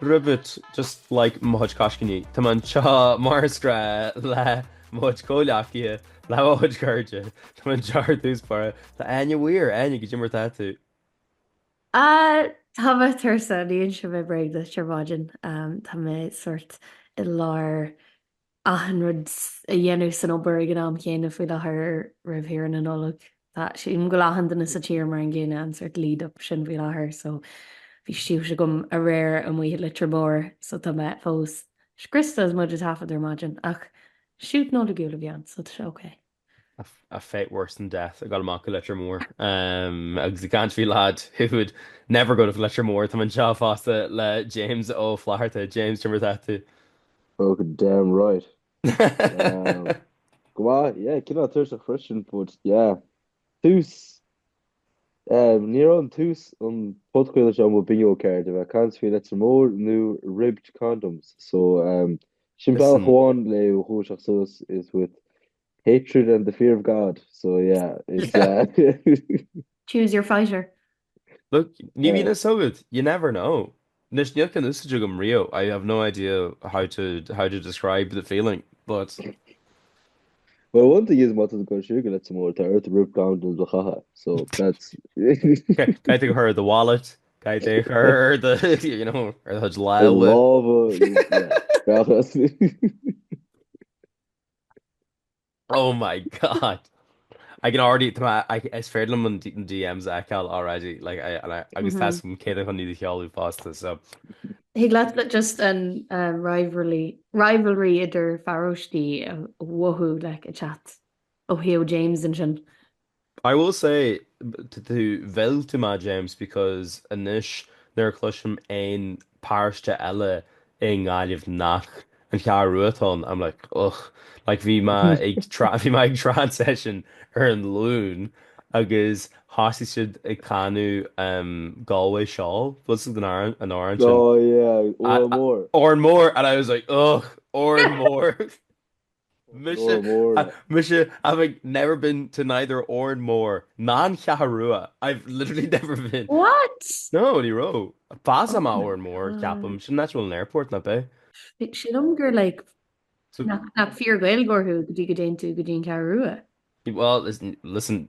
Ribbed, just like mo chuid coiscíní, tá mé anseo mar is gnách le mo chuid comhleacaithe, le mo chuid cairde, tá mé anseo ar dtús báire le Áine Mhór, Áine, goidé mar atá tú? Ah, tá mé tuirseach, ní inseoidh mé bréag duit ar maidin, tá mé sort i lár. achan rud a dhéanamh san obair ag an am chéanna faoi láthair roimh shaoire na Nollag. Tá, sílim, go bhfuil achan duine sa tír mar an gcéanna, an sort lead up sin faoi láthair so bhí shoot agam aréir amuigh i Leitir Móir so tá mé fós scriosta is muid ag taifeadadh ar maidin ach shoot Nollaigiúil a bhí ann so tá sé okay. a fate worse than death, ag gabháil amach go Leitir Móir agus ag caint faoi Lad who would never go to Leitir Móir. Tá mé anseo fosta le James Ó Flatharta. James, goidé mar atá tú? Oh damn right. Go maith, yeah, cineál tuirseach freisin but yeah. Tús, ní raibh an tús an podchraoladh seo ar mo bingo card, a bheith ag caint faoi Leitir Móir nó ribbed condoms so Sin bealach amháin le dúiseacht suas is with hatred and the fear of God, so yeah, it's. Choose your fighter. Look, ní bhíonn a fhios agat, you never know. Anois níl ceann úsáidte agam riamh, I have no idea how to how to describe the feeling, but. Well, one thing is má tá tú ag goil chuig Leitir Móir, tá ort ribbed condom a chaitheamh, so that's. Caithfidh tú é a chur i do wallet, Caithfidh tú é a chur ar do, you know, ar do chuid lámha? Lámha, yeah. Oh my God! I can already, is féidir liom an DMs a fheiceáil already, like, agus tá's agam cé atá chun iad a sheoladh fosta, so. Thig leat just an rivalry idir pharóistí a mhothú, like, ag teacht ó thaobh James ansin. I will say tá tú... mhill tú mé James because anois nuair a cloisim aon paróiste eile i nGaillimh nach an Cheathrú Rua atá ann I'm like ugh like bhí mé ag tra- bhí mé ag trad session ar an Luan agus thosaigh siad ag canadh um, Galway Shawl was it an t-amhrán an t-amhrán sin Oh yeah, I, Oran I, Mór. Oran Mór and I was like ugh Oran Mór Mise, mise, having never been to neither Órán Mór ná an Cheathrú Rua, I've literally never been. What? No, ní raibh. Passáil mé Órán Mór, ceapaim. Sin an áit a bhfuil an airport, nach b'ea? Sílim gur like, nach, nach fíor-Ghaeilgeoir thú go dtí go dtéann tú go dtí an Cheathrú Rua. Well, listen,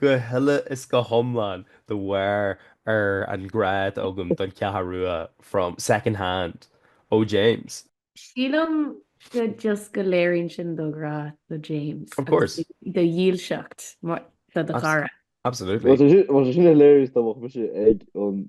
Go huile is go hiomlán de bharr an grá atá agam don Cheathrú Rua from second hand ó James. Sílim go just go léiríonn sin do ghrá do James Of agus course. do dhílseacht do do chara. Absolutely. Bhuel, is it hilarious dá mbeadh mise ag an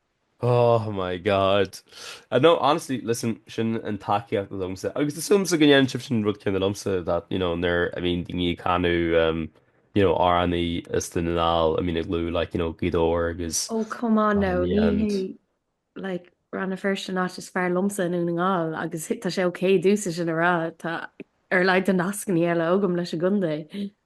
Oh my God. No, honestly, listen, sin an tacaíocht liomsa, agus súil agamsa go ndéanfadh sibhse an rud céanna liomsa, that, you know, nuair, I mean, daoine ag canadh, um, you know, amhráin as Dún na nGall, I mean, ag lua, like, you know, Gaoth Dobhair agus Oh, come on now, ní hé, like, Rann na Feirste an áit is fearr liomsa i nDún na nGall, agus tá sé ok domhsa sin a rá, tá ar a laghad de nascannaí eile agam leis an gcontae.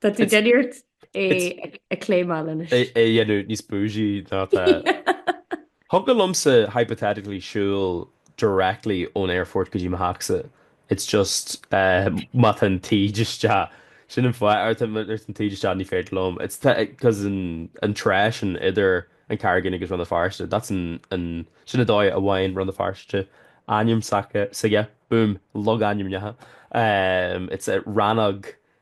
Tá tú ag déanamh iarracht é a cléimeáil anois. É a dhéanamh níos bougie ná tá. Thiocfadh liomsa hypothetically siúl directly ón aerfort go dtí mo theachsa. It's just má tá an taoid isteach, sin an fhadhb, nuair atá an taoid isteach ní féidir liom. It's cause an trá sin idir an Charraig Fhinn agus Rann na Feirste, that's an, sin an dóigh a bhfaigheann Rann na Feirste ainm s'aige, boom, logainmneacha. It's a rannóg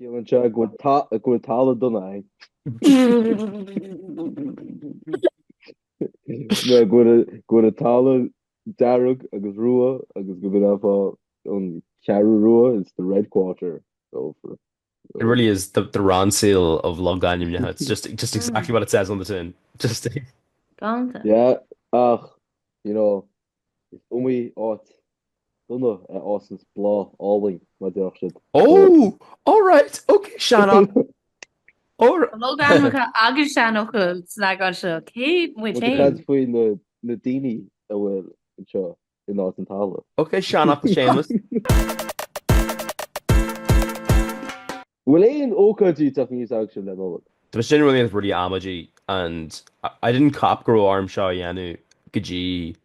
Ciallaíonn sé go bhfuil talamh dona ann. Nó go bhfuil an talamh dearg agus rua agus gurb é an Cheathrú Rua, it's the red quarter. It really is the Ronseal of logainmneacha, it's just exactly what it says on the tin. Just. Galanta. Yeah, ach, you know, Is iomaí áit dona a fhásanns bláth álainn, mar a déarfadh siad. Oh! All right! Ok, seanfhocal. Logainmneacha agus seanfhocail san eagrán seo. Cé muid féin? Muid ag caint faoi na daoine a bhfuil anseo in áit an talamh. Ok, seanfhocal Séamas. An bhfuil aon ócáidí ag teacht aníos agaibhse don Nollaig? Tá sin really really amaideach and I didn't cop go raibh orm seo a dhéanamh go dtí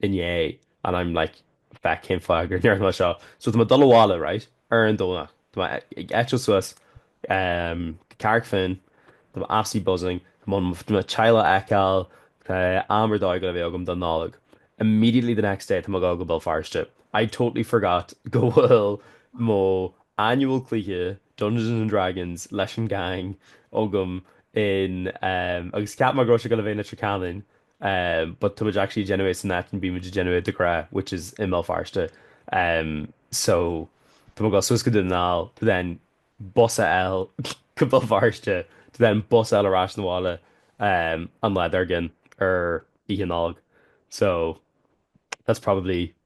inné and I'm like feck cén fáth gur ndearna mé seo so tá mé ag dul abhaile right ar an Domhnach tá mé ag eitilt suas um go Carrick Finn tá mé absolutely buzzing mo theaghlach a fheiceáil tá am ar dóigh goil a bheith agam don Nollaig immediately the next day tá mé ag dul go Béal Feirste I totally forgot go bhfuil mo annual cluiche Dungeons and Dragons leis an gang agam in em agus cheap mé go raibh sé goil a bheith in Leitir Ceanainn em but tá muid actually ag déanamh é san áit a mbíonn muid ag déanamh é de ghnáth which is i mBéal Feirste em so tá mé goil suas go Dún na nGall to then bus a fháil go Béal Feirste to then bus a fháil ar ais na bhaile em an lá dar gcionn ar Oíche Nollag so that's probably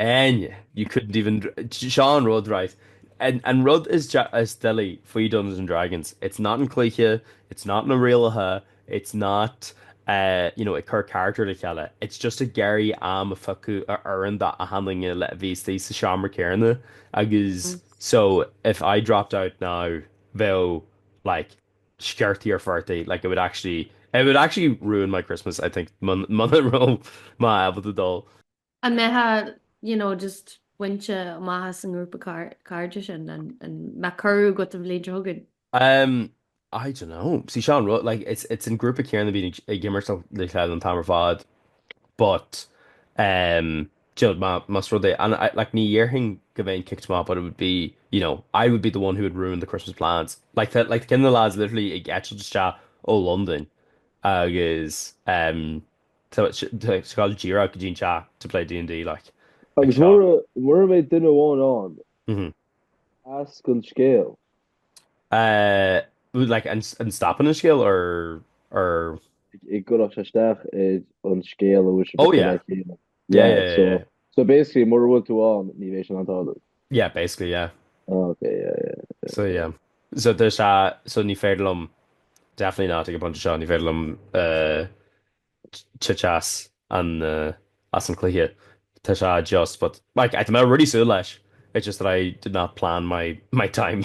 Áine, You couldn't even, seo an rud, right, an rud is doilí faoi Dungeons and Dragons, it's not an cluiche, it's not na rialacha, it's not you know ag cur character le chéile, it's just ag iarraidh am a phiocadh a oireann do achan duine le bheith istigh sa seomra céarna agus so if I dropped out now bheadh like sciortaí ar phortaigh like it would actually, it would actually ruin my Christmas I think mun, muna raibh mé ábalta dul. An mbeifeá, you know, just bainte amach as an ngrúpa cairde sin? An mbeadh cuireadh agat an bhliain seo chugainn? Um, I don't know. See, seo an rud, like, it's, it's an grúpa céanna a bhíonn ag imirt le chéile an t-am ar fad, but, um, do you know, más rud é, and I, like, ní dhéarfainn go mbeinn kicked amach but it would be, you know, I would be the one who would ruin the Christmas plans. Like, tá, like, tá ceann de na lads literally ag eitilt isteach ó Londain agus, um, Ag gabháil díreach go dtí an teach to play D&D like. Agus mura mbeidh duine amháin ann, as an scéal. Bhfuil like an stopann an scéal or or? An gcuirfeadh sé isteach ar an scéal a bhfuil sé. Oh yeah. Yeah, yeah, yeah, yeah. So basically, mura bhfuil tú ann, ní bheidh sé in ann tarlú. Yeah, basically, yeah. Oh, ok, yeah, yeah, yeah. So, yeah. So tá sé, so ní féidir liom, definitely not ag an bpointe seo, ní féidir liom titim as an, as an cluiche. Tá sé just, but, like, tá mé really ag súil leis, it's just that I did not plan my, my time.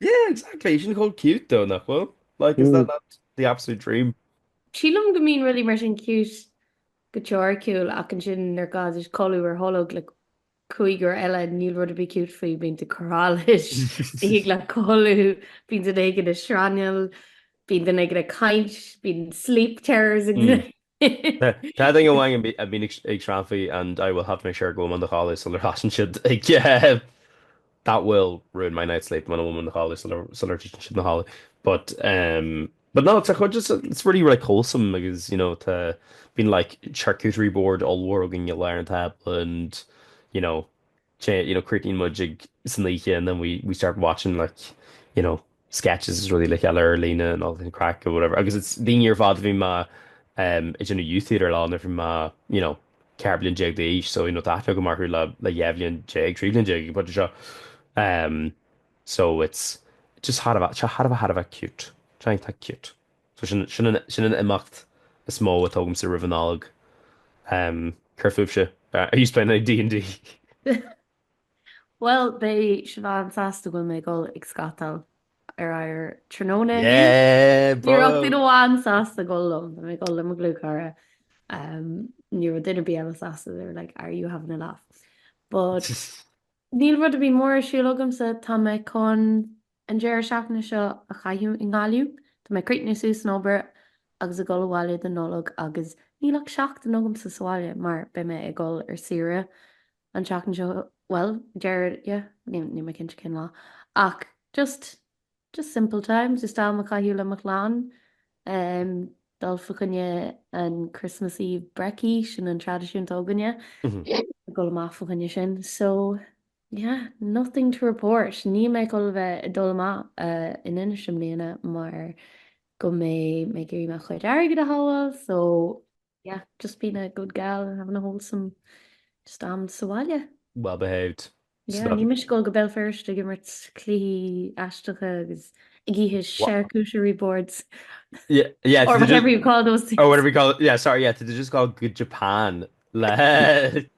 Yeah, exactly. Sin chomh cute though, nach bhfuil? Like, is that mm. not the absolute dream? Sílim go mbíonn rudaí mar sin cute go teoiriciúil ach ansin nuair atá tú ag codladh ar tholg le cúigear eile níl rud ar bith cute faoi bíonn tú corá leis ag iarraidh dul a chodladh bíonn duine éigin ag srannaíl bíonn duine éigin ag caint bíonn sleep terrors ag mm. Tá duine amháin a bhíonn ag srannfaí and I will have to make sure go bhfuil mé i mo chodladh sular thosaíonn siad ag eh that will ruin my night's sleep muna bhfuil mé i mo chodladh sular sular titeann siad a chodladh but em but no tá chomh just it's really really wholesome agus you know tá bíonn like charcuterie board ollmhór againn i lár an tábla and you know Sé, you know, críochnaíonn muid ag, san oíche and then we start watching like, you know, sketches is rudaí le chéile ar líne and all the craic or whatever agus it's daoine ar fad a bhí mé um ag déanamh youth theatre leo nuair bhí mé, you know, ceithre bliain déag d'aois so, you know, tá aithne agam orthu le, le dhá bhliain déag, trí bhliain déag ag an phointe seo um so it's just thar a bheith, tá thar a bheith, thar a bheith cute. Tá, tá cute. So sin, sin an, sin an imeacht is mó atá agamsa roimh an Nollaig. Ehm, céard fúibhse? Are yous playing any D&D? Bhuel, beidh Siobhán sásta go bhfuil mé ag dul ag scátáil ar oighear tráthnóna inniu. Yeah, bro! Ní raibh duine amháin sásta a dhul liom, beidh mé ag dul le mo dhlúthchara. Ehm, ní raibh duine ar bith eile sásta, they were like, are you having a laugh? But, níl rud ar bith mór ar siúl agamsa, tá mé chun… An deireadh seachtaine seo a chaitheamh i nGaillimh, tá mé ag críochnú suas an obair agus ag dul abhaile don Nollaig agus níl ach seachtain agamsa sa bhaile mar beidh mé ag dul ar saoire an tseachtain seo, bhuel, deireadh, yeah, níl mé cinnte cén lá ach just, just simple times, just am a chaitheamh le mo chlann, em, dul fa choinne an Christmas Eve brekkie, sin an traidisiún atá againne, dul amach fa choinne sin, so. Yeah, nothing to report. Níl mé ag dul a bheith ag dul amach in Inis i mbliana mar go mbeidh mé ag iarraidh mo chuid airgid a shábháil so yeah, just being a good gal having a wholesome just am sa bhaile. Well behaved. Yeah, níl mise ag dul go Béal Feirste ag imirt cluichí aisteacha agus ag ithe charcuterie boards or whatever you call those things. Or whatever you call, yeah, sorry, yeah, tá tú just ag dul go Japan le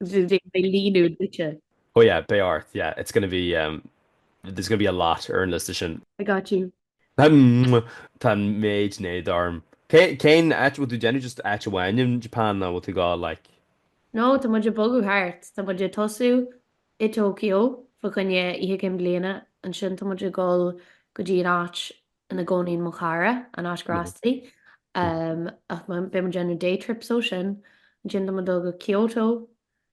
mo bhia líonadh duitse. Oh yeah, beidh ort, yeah, it's gonna be, um, there's gonna be a lot ar an liosta sin. I got you. Tá an méid sin éada orm. Cén áit a bhfuil tú ag déanamh, just áit amháin in Japan a bhfuil tú ag dul, like? No, tá muid ag bogadh thart. Tá muid ag tosú i Tokyo fa choinne Oíche Cinn Bliana, ansin tá muid ag dhul go dtí an áit ina gcónaíonn mo chara, an áit cá bhfásta, ach beidh muid ag déanamh day trips ó sin, ansin tá muid ag dul go Kyoto,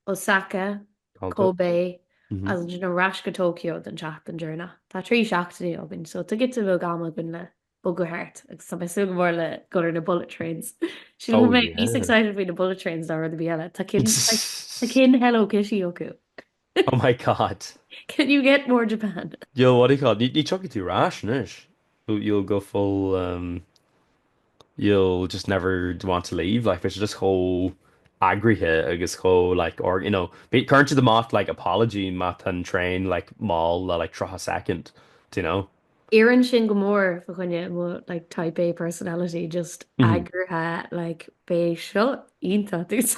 Osaka, Kobe agus ansin ar ais go Tokyo don tseachtain deireanach. Tá trí seachtainí againn so tá giota beag ama againn le bogadh thart agus tá mé ag súil go mór le dhul ar na bullet trains. Sílim go mbeidh muid níos excited faoi na bullet trains ná rud ar bith eile, tá cinn Hello Kitty acu! Oh my God. Can you get more Japan? You'll what do you call it? Ní thiocfaidh tú ar ais anois. You'll go full, um, you'll just never want to leave. Like, tá sé just chomh eagraithe agus chomh, like, or, you know, cuireann siad amach, like, apology má tá an traein, like, mall le, like, 30 soicind, do you know? Oireann sin go mór fá choinne mo, like, type A personality, just eagraithe, like, beidh seo iontach.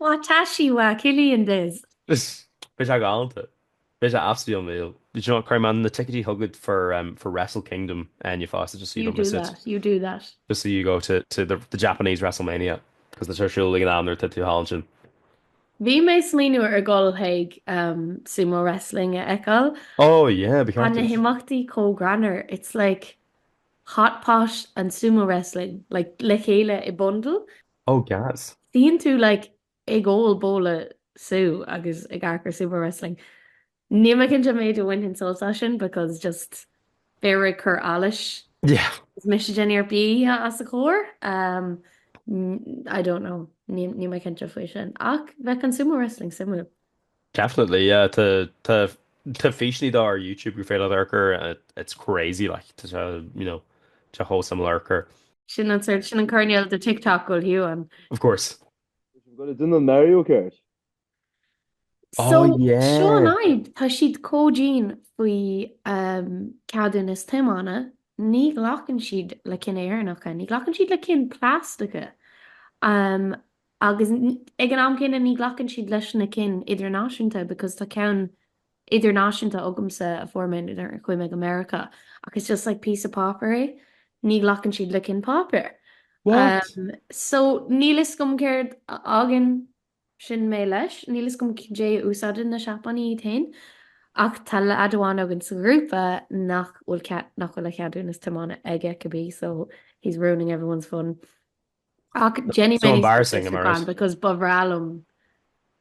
Watashi wa Cillian desu. Beidh sé galanta. Beidh sé absolutely unreal. Do you know what, cuirfidh mé na ticití chugat for for Wrestle Kingdom inniu fosta just so you don't miss it. You do that, you do that. Just so you go to to the the Japanese Wrestlemania cos tá sé ar siúl ag an am nuair atá tú thall ansin. Bhí mé ag smaoineamh ar dhul chuig sumo wrestling a fheiceáil. Oh yeah, ba cheart duit. Tá na himeachtaí chomh greannmhar, it's like hot pot and sumo wrestling, like le chéile i bundle. Oh gas. Suíonn tú like ag ól babhla sú agus ag amharc ar Sumo Wrestling. Níl mé cinnte an méid a bhainfinn sult as sin because just fear ag cur allais agus mise den fhear bia os a chomhair. I don't know. Níl mé cinnte faoi sin. Ach bheadh an Sumo Wrestling suimiúil. Definitely yeah tá tá tá físeannaí dó ar YouTube gur féidir leat amharc air it's crazy like tá sé you know tá sé chomh suimiúil amharc air. Sin an sort sin an coirnéal de TikTok go bhfuil tú ann. Of course. We've got to do the Mario Kart. So Oh yeah. seo an fhadhb, tá siad comh dian faoi ceadúnais tiomána, ní ghlacann siad le cinn Éireannacha, ní ghlacann siad le cinn plaisteacha. Agus ag an am céanna ní ghlacann siad leis na cinn idirnáisiúnta because tá ceann idirnáisiúnta agamsa a fuair mé nuair a chuaigh mé go Meiriceá ach it's just like píosa páipéir é. Ní ghlacann siad le cinn páipéir. What? So níl fhios agam céard a fhágann sin mé leis. Níl fhios agam céard a úsáideann na Seapánaigh iad féin ach tá leaid amháin againn sa ghrúpa nach bhfuil a cheadúnas tiomána aige cibé so he's ruining everyone's fun. Ach déanfaidh So mé embarrassing, Sweet Tits Amárach. Fan because ba bhreá liom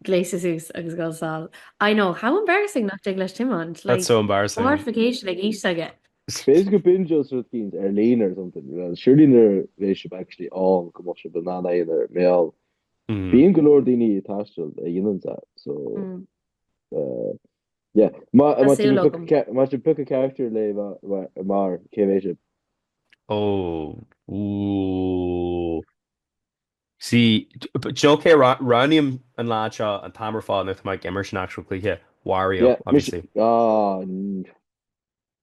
gléasadh suas agus goil sall. I know, how embarrassing nach dtig leis Tiomáint, That's like, so embarrassing. mortification ag aois aige. B'fhéidir go bingeoidh siad rud éicint ar líne or something, well, surely nuair a bheidh sibh actually ann go mbeadh sibh in ann iad a mhealladh. Bíonn go leor daoine ag taisteal a dhéanann that, so, eh, Yeah. Má Tá súil agam. má sin pick a character le bheith mar, mar, cé hé sin? Oh. Ooh. See, do you know cé a roghnaím an lá seo an t-am ar fad nuair atá mé ag imirt an actual cluiche? Wario, Yeah, mis- obviously. Ah, mm.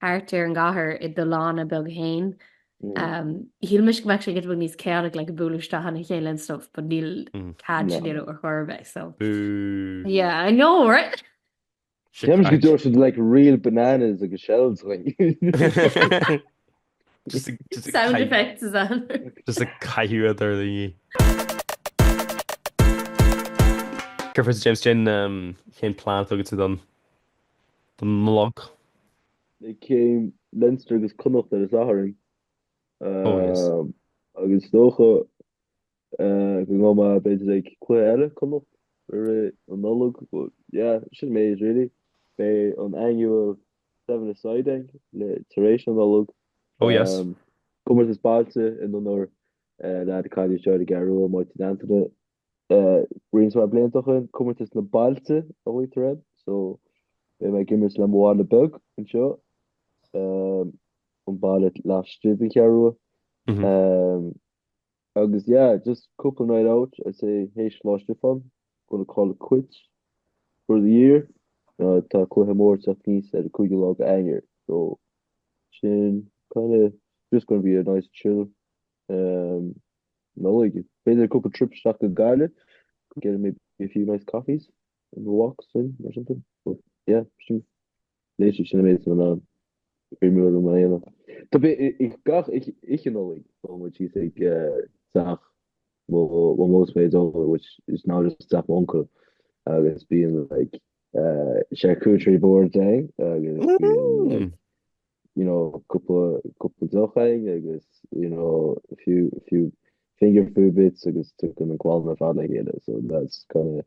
thart ar an gcathair i do lána beag fhéin. Shíl mise go mbeadh sé giota beag níos chaotic like ag bualadh isteach ina chéile and stuff but níl cead sin ar chor ar bith so yeah I know right? Shit right. Go dtabharfadh siad like real bananas agus shells dhúinn. Sound effects is ann. Just ag caitheamh a dturlaigh. Cuirfear sa James Chin cén plean atá agat don Nollaig? Ag game Leinster agus Connacht ar an Satharn. Ó, yes. Agus is dócha go ngabhfaidh mé b'fhéidir ag cluiche eile, Connacht, i rith an Nollaig, but yeah, sin an méid really. Beidh an annual seven-a-side againn le tar éis an Nollaig. Oh yes. Comórtas Bailte in onóir leaid a cailleadh anseo ar an gCeathrú Rua, Máirt Uí Antaine. Roinnt mhaith blianta ó shoin, Comórtas na Bailte a luaitear air, so beidh mé ag imirt le mo bhaile beag anseo, an baile laistigh den Cheathrú Rua. Agus yeah, just cúpla night out, I'd say théis Lá Stiofáin, gonna call it quits for the year. Uh, tá cluiche mór ag teacht aníos ar an 5ú lá de Eanáir, so sin kind of just gonna be a nice chill um, Nollaig. B'fhéidir cúpla trips isteach go Gaillimh, get maybe a few nice coffees and walks in or something. But yeah, sin Laoise sin a mbeidh san oileán, feirmeoir Rómáineach. Tá mé ag gach Oíche Nollag, téann muid síos ag teach Mhamó is Dhaideo, which is now just teach m'uncail, agus bíonn like charcuterie boards ann agus bíonn you know cúpla deoch ann agus you know a few few finger food bits agus tagann an clann ar fad le chéile, so that's kind of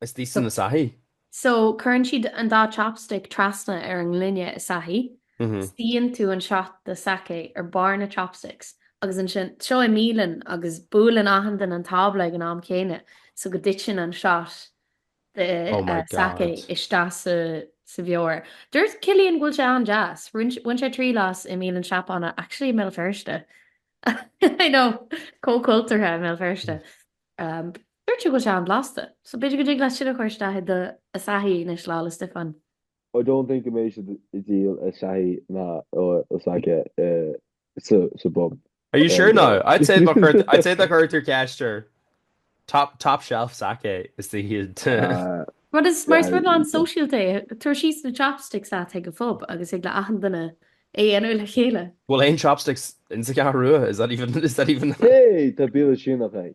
Is thíos in Asahi. So, cuireann siad an dá chopstick trasna ar an ngloine Asahi, suíonn tú an shot de sake ar barr na chopsticks agus ansin, seo i mbialann agus buaileann achan duine an tábla ag an am chéanna so go dtiteann an shot de sake isteach sa bheoir. Dúirt Cillian go bhfuil sé an-deas. Bhain sé triail as i mbialann Seapánach, actually i mBéal Feirste. I know, comh cultúrtha i mBéal Feirste. Dúirt sé go raibh sé an-bhlasta, so b'fhéidir go dtig leat sin a chur isteach i do Asahi anois, Lá 'le Stiofáin. I don't think go mbeidh siad ag díol Asahi ná sake sa bpub. Are you sure now? I'd say má chuirtear ceist air, top, top shelf sake is dóigh iad. Rud is, mar is rud an-sóisialta é, tabhair síos na chopsticks leat chuig an phub agus thig le achan duine é a dhéanamh le chéile. Bhfuil aon chopsticks insa gCeathrú Rua? Is that even, is that even? Hey, tá bialann Síneach ag.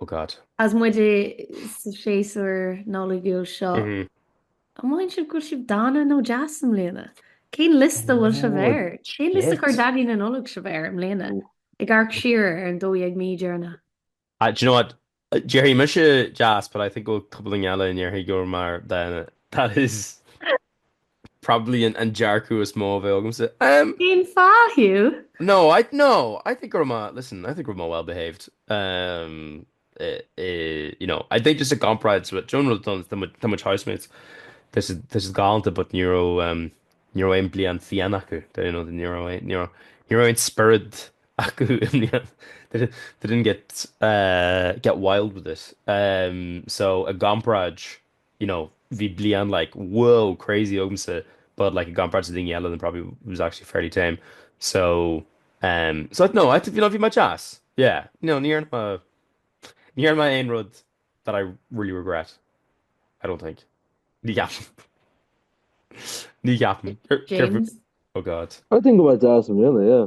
Oh God. Is muide sa séasúr Nollaigiúil seo, an maíonn sibh go bhfuil sibh dána nó deas i mbliana? Cén liosta a bhfuil sibh air? Cén liosta a chuir Daidí na Nollag sibh air i mbliana? Ag amharc siar ar an 12 mí deireanach? Do you know what? Déarfadh mise deas, but I think go bhfuil cúpla duine eile a ndéarfadh go raibh mé dána. That is. Probably an dearcadh is mó a bheadh agamsa. Umm. Cén fáth thú? No, I, no, I think go raibh mé, listen, I think go raibh mé well behaved. Umm, eh, eh, you know, I think just a gcomparáid with, do you know an rud atá ann, do mo chuid housemates, tá siad, tá siad galánta but ní raibh, umm, ní raibh aon bhliain fhiáin acu, do you know, ní raibh aon, ní raibh, ní raibh aon spiorad acu i mbliain, they didn't, they didn't get, eh, get wild with it. Umm, so, i gcomparáid, you know bhí bliain like wow crazy agamsa but like i gcomparáid le daoine eile then probably was actually fairly tame so um so no I think you know bhí much ass yeah you know níor ma níor ma aon rud that I really regret I don't think ní gap ní gap oh god I think about that really yeah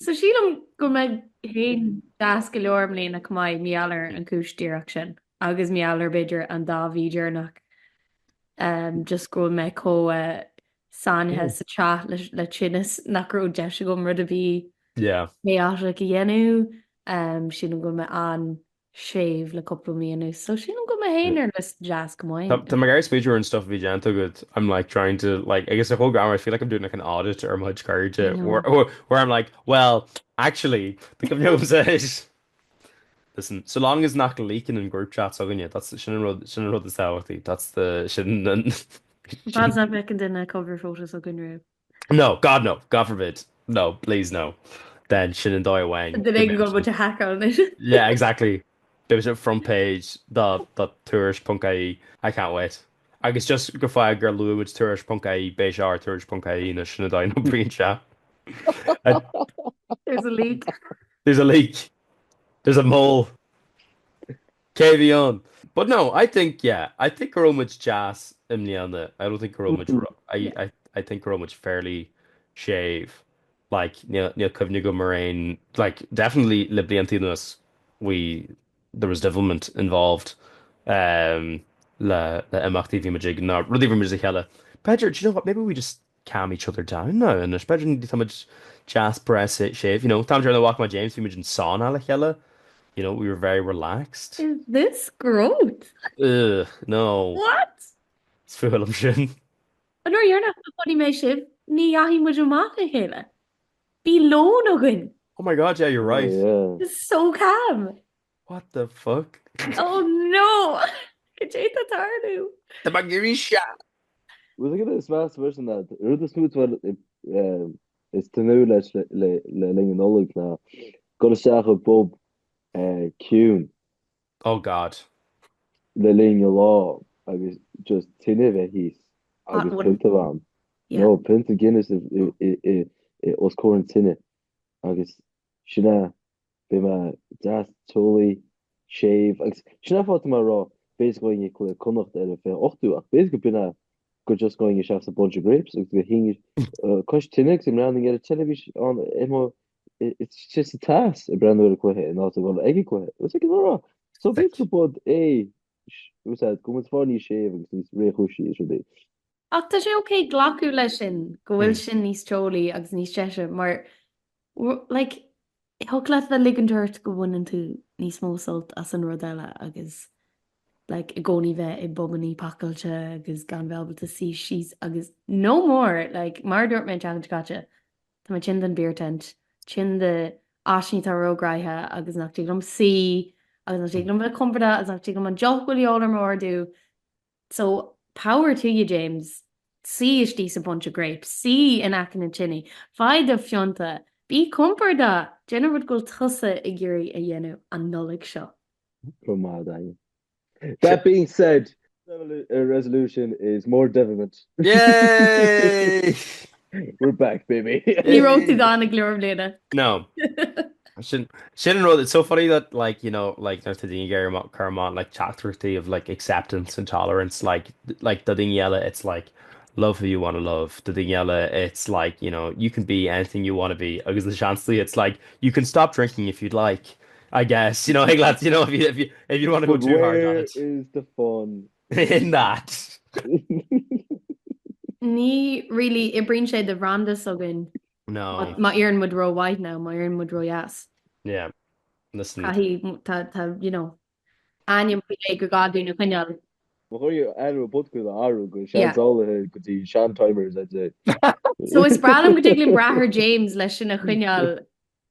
So sílim go mbeidh mé féin deas go leor i mbliana chomh maith, mar gheall ar an chúis díreach sin agus mar gheall ar b'fhéidir an dá mhí deireanach, just go bhfuil mé chomh sáinnithe sa teach le tinneas nach raibh deis agam rud ar bith chaotic a dhéanamh. Sílim go bhfuil mé séimh le cúpla mí anuas so sílim go mbeidh mé fhéin ar nós deas go maith. Tá mé ag iarraidh smaoineamh ar an stuff a bhí déanta agatsa, I'm like trying to like agus ar chomh greama I feel like I'm doing like an audit ar mo chuid cairde where I'm like well actually do go mbeadh liomsa is listen so long as nach leakann na group chats againne that's sin an rud sin an rud is tábhachtaí that's the sin an Bad enough bheadh na cover photos againn riamh. No, God no, God forbid, no, please no, then sin an dóigh amháin go mbeidh muid ar haiceáil anois. Yeah, exactly, beidh muid ar front page de Tuairisc ponc ie, I can't wait. Agus just de bharr gur luaigh muid Tuairisc ponc ie, beidh sé ar Tuairisc ponc ie anois, sin an dóigh a n-oibríonn sé. There's a leak. There's a leak. There's a mole. Cé a bhí ann? But no, I think, yeah, I think go raibh muid deas i mbliana. I don't think go raibh muid ro-, I, Yeah. I, I think go raibh muid fairly séimh. Like, níl, níl cuimhne agam ar aon, like, definitely le blianta anuas, we, there was devilment involved um, le, le imeachtaí bhí muid ag, nó rudaí bhí muid le chéile. B'fhéidir, do you know what, maybe we just, calm each other down now anois b'fhéidir níl tá muid deas breá séimh you know tá muid ar na walk Magazines bhí muid sa sauna le chéile you know we were very relaxed is this growth ugh no what is fuath liom sin an uair dheireanach a chonaic mé sibh ní dheachaigh muid amach le chéile bhí lón againn oh my god yeah you're right yeah. it's so calm What the fuck? Oh no! Cad é atá tarlú? Tá muid ag éirí sean! Rud eile domsa freisin ná an rud is mó atá mé ag tnúth leis le linn an Nollaig ná dul isteach i bpub ciúin. Oh God. Le linn an lá agus just tine a bheith thíos agus pionta amháin, nó pionta Guinness os comhair an tine agus sin é. Beidh mé deas, teolaí, séimh, agus sin é an fáth atá mé a rá, b'fhéidir go ngabhfainn ag cluiche Connacht ar an fiche ochtú, ach b'fhéidir go b'in é go just go ngabhfainn isteach sa Bunch of Grapes agus go suífinn cois tine agus go mbreathnóinn ar an teilifís ann istigh sa teas, ag breathnú ar an cluiche in áit a dhul ag an gcluiche. Is é sin a rá, so b'fhéidir go b'shiod é, as go mbeidh muid ag fáil níos séimhe agus níos réchúisí is rud é. Ach tá sé ok glacadh leis sin, go bhfuil sin níos teolaí agus níos deise, mar, like, thig leat a bheith ligint ort go mbaineann tú níos mó sult as an rud eile agus, like, i gcónaí bheith i bpubainí pacáilte agus gan bheith ábalta suí síos agus no more! Like, mar a dúirt mé an tseachtain seo caite, tá mé tinn den beer tent, tinn de áiteanna atá róghnaitheach agus nach dtig liom suí agus nach dtig liom bheith compordach agus nach dtig liom an deoch a bhfuil a dhíobháil orm a ordú. So, power to you James. Suí istigh sa Bunch of Grapes, suí in aice na tine, faigh do phionta, bí compordach, déan an rud go bhfuil tusa ag iarraidh a dhéanamh an Nollaig seo. Go maith, Daniel. That being said, resolution is more devilment. Yay! We're back, baby. Ní raibh tú gann ag leor bliana. No. Sin sin an rud, it's so funny that like, you know, like nuair tá daoine ag éirí amach cur amach like teachtaireachtaí of like acceptance and tolerance like like do daoine eile it's like love who you want to love, do daoine eile it's like, you know, you can be anything you want to be agus na seansaí it's like you can stop drinking if you'd like, I guess, you know, ag leat, you know, if you if you if you want to go But too hard on where it. is the fun In that. Ní really oibríonn sé don bhranda s'againn. No. Má éiríonn muid ró mhaith nó má éiríonn muid ró dheas. Yeah, listen. Caithfidh, tá, tá, you know, ainm faoi leith ag gach duine coinneáil. Caithfidh muid ainm an phodcast a athrú go seansálaithe go dtí sean-timers, I'd say. So is breá liom go dtig linn brath ar James leis sin a choinneáil.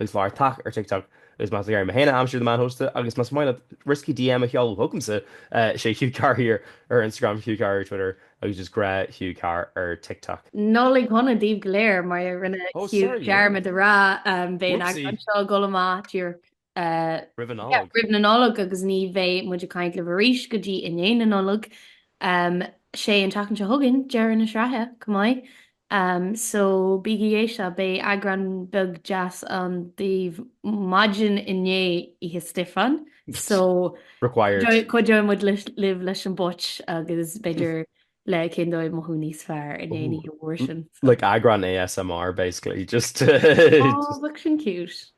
Is fearr tagtha ar TikTok agus más ag iarraidh mé féin a aimsiú The Man Who Hosted agus más maith leat risky DM a sheoladh chugamsa, is é Hugh Carr here ar Instagram, Hugh Carr ar Twitter agus just gnáth Hugh Carr ar TikTok. Nollaig Shona daoibh go léir, mar a rinne Oh Hugh sorry yeah, dearmad a rá, beidh an whoopsie. eagrán seo ag dul amach díreach Roimh an Nollaig. roimh na Nollag agus ní bheidh muid ag caint libh arís go dtí i ndiaidh na Nollag. Sé an tseachtain seo chugainn deireadh na sraithe, chomh maith. Um so bígí ag éisteacht, beidh eagrán beag deas ann daoibh maidin i ndiaidh Oíche Stiofáin, so cuideoidh muid libh leis an phóit agus b'fhéidir le cén dóigh mothú níos fearr i ndiaidh an oíche mhór sin. Like eagrán ASMR basically, just to. Aw, bheadh sin cute.